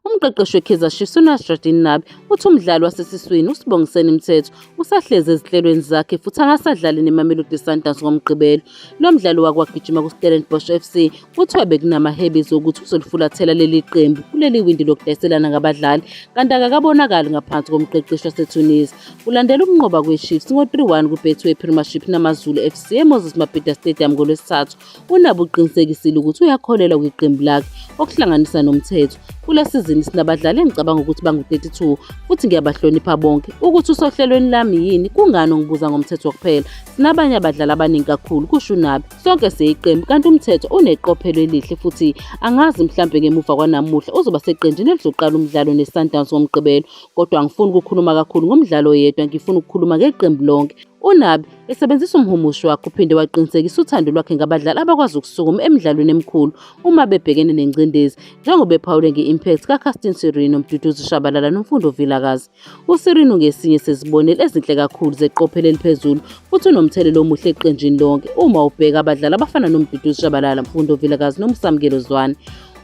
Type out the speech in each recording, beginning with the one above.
Umqeqeshi weKaizer Chiefs uNasreddine Nabi uthi umdlali wasesiswini uSibongiseni Mthetho usahlezi ezinhlelweni zakhe futhi akasadlali neMamelodi Sundowns ngoMgqibelo. Lo mdlali wakwagijima kuStellenbosch FC kuthiwa bekunamahebezi okuthi uzolifulathela leli qembu kuleli windi lokudayiselana ngabadlali kanti akakabonakali ngaphansi komqeqeshi waseTunisia. Kulandela ukunqoba kweChiefs ngo-3-1 kuBetway Premiership naMaZulu FC eMoses Mabhida Stadium ngoLwesithathu UNabi uqinisekisile ukuthi uyakholelwa kwiqembu lakhe okuhlanganisa nomthetho. Kule sizini sinabadlali engicabanga ukuthi bangu-32 futhi ngiyabahlonipha bonke. Ukuthi usohlelweni lami yini kungani ungibuza ngomthetho kuphela. Sinabanye abadlali abaningi kakhulu, kusho uNabi. Sonke siyiqembu kanti umthetho uneqophelo elihle futhi angazi mhlampe ngemuva kwanamuhla uzoba seqenjini elizoqala umdlalo neSundowns ngoMgqibelo. Kodwa angifuni ukukhuluma kakhulu ngomdlalo oyedwa, ngifuna ukukhuluma ngeqembu lonke. UNabi Esebenzisa umhumushi wakhe uphinde waqinisekisa uthando lwakhe ngabadlali abakwazi ukusukuma emidlalweni emikhulu uma bebhekene nengcindezi njengoba ephawule nge-impact kaCastin Sirino, Mduduzi Shabalala noMfundo Vilakazi. USirino ngesinye sezibonelo ezinhle kakhulu zeqophelo eliphezulu futhi unomthelela omuhle eqenjini lonke uma ubheka abadlali abafana noMduduzi Shabalala, Mfundo Vilakazi noMsamukelo Zwane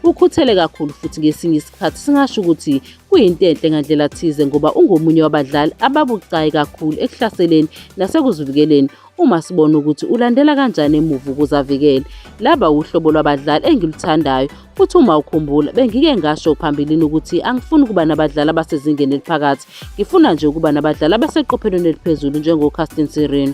ukhuthele kakhulu futhi ngesinye isikhathi singasho ukuthi kuyinto enhle ngandlela thize ngoba ungomunye wabadlali ababucayi kakhulu ekuhlaseleni nasekuzivikeleni uma sibona ukuthi ulandela kanjani emuva ukuze avikele laba wuhlobo lwabadlali engiluthandayo futhi uma ukhumbula bengike ngasho phambilini ukuthi angifuni ukuba nabadlali abasezingeni eliphakathi ngifuna nje ukuba nabadlali abaseqophelweni eliphezulu njengocastin sirino